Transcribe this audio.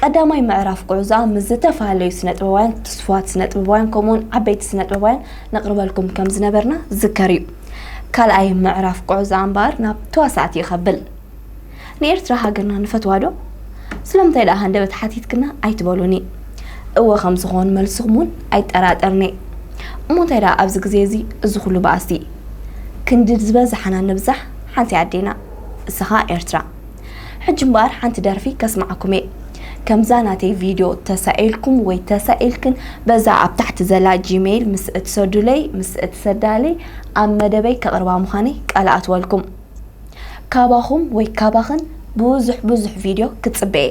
ቀዳማይ ምዕራፍ ጉዕዞኣ ምስ ዝተፋለዩ ስነጥበባውያን ትስፉዋት ስነጥበባውያን ከምኡውን ዓበይቲ ስነጥበባውያን ነቕርበልኩም ከም ዝነበርና ዝከር እዩ ካልኣይ ምዕራፍ ጉዕዞኣ እምበኣር ናብ ተዋሳእቲ ይኸብል ንኤርትራ ሃገርና ንፈትዋ ዶ ስለምንታይ ደኣ ሃንደበት ሓቲትክና ኣይትበሉኒ እወ ከም ዝኾን መልስኹም እውን ኣይጠራጠርኒ እሞ እንታይ ደኣ ኣብዚ ግዜ እዚ እዚ ኩሉ ባእሲ ክንዲ ዝበዝሓና ንብዛሕ ሓንቲ ኣዴና እሰኻ ኤርትራ ሕጂ እምበኣር ሓንቲ ደርፊ ከስምዓኩም እየ ከምዛ ናተይ ቪድዮ ተሳኢልኩም ወይ ተሳኢልክን በዛ ኣብ ታሕቲ ዘላ ጂሜይል ምስ እትሰዱለይ ምስ እትሰዳለይ ኣብ መደበይ ከቕርባ ምዃነይ ቃል ኣትወልኩም ካባኹም ወይ ካባኽን ብዙሕ ብዙሕ ቪድዮ ክጽበ እየ